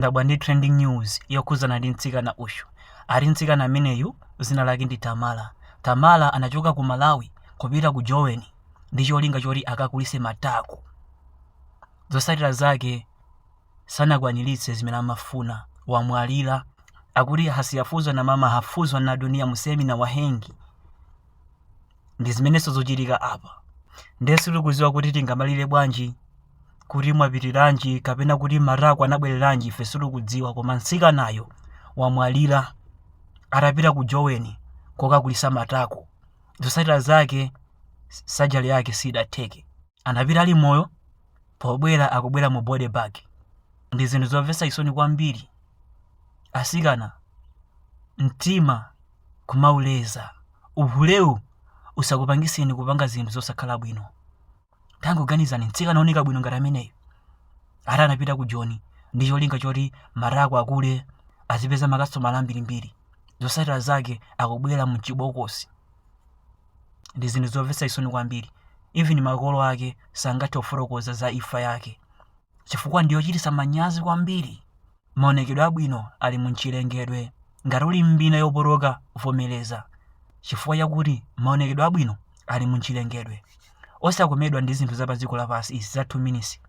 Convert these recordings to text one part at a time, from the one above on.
ndadabwa ndi trending news yokhudzana ndi mtsikana uyu ati mtsikana ameneyu dzina lake ndi tamala tamala anachoka ku malawi kupita ku joni ndi cholinga choti akakulitse matako zosatira zake sanakwaniritse zimene amafuna wamwalira akuti asiyefunzwa na mama hufunzwa na dunia msema na wahengi ndi zimenezo zochitika apa ndiye sitikudziwa kuti tingamulire bwanji kuti mwapitiranji kapena kuti matako anabwereranji ife sitikudziwa koma mtsikanayo wamwalira atapita ku joni kokakulitsa matako zosatira zake sajali yake sidatheke anapita ali moyo pobwera akubwera mu body bag ndi zinthu zomvetsa chisoni kwambiri asikana mtima kumauleza uhulewu usakupangitseni kupanga zinthu zosakhala bwino tangoganizani mtsikana oneka bwino ngati ameneyo ati anapita ku joni ndi cholinga choti matako akule azipeza makasitomala ambirimbiri zosatira zake akubwera mchibokosi ndi zinthu zomvetsa chisoni kwambiri even makolo ake sangathe kufotokoza za imfa yake chifukwa ndi yochititsa manyazi kwambiri maonekedwe abwino ali mu mchilengedwe ngati uli ndi mbina yopotoka vomereza chifukwa chakuti maonekedwe abwino ali mu mchilengedwe osakomedwa ndi zinthu za pa dziko lapansi izi za 2 minutes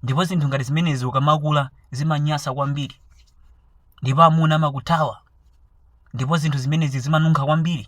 ndipo zinthu ngati zimenezi ukamakula zimanyasa kwambiri ndipo amuna amakuthawa ndipo zinthu zimenezi zimanunkha kwambiri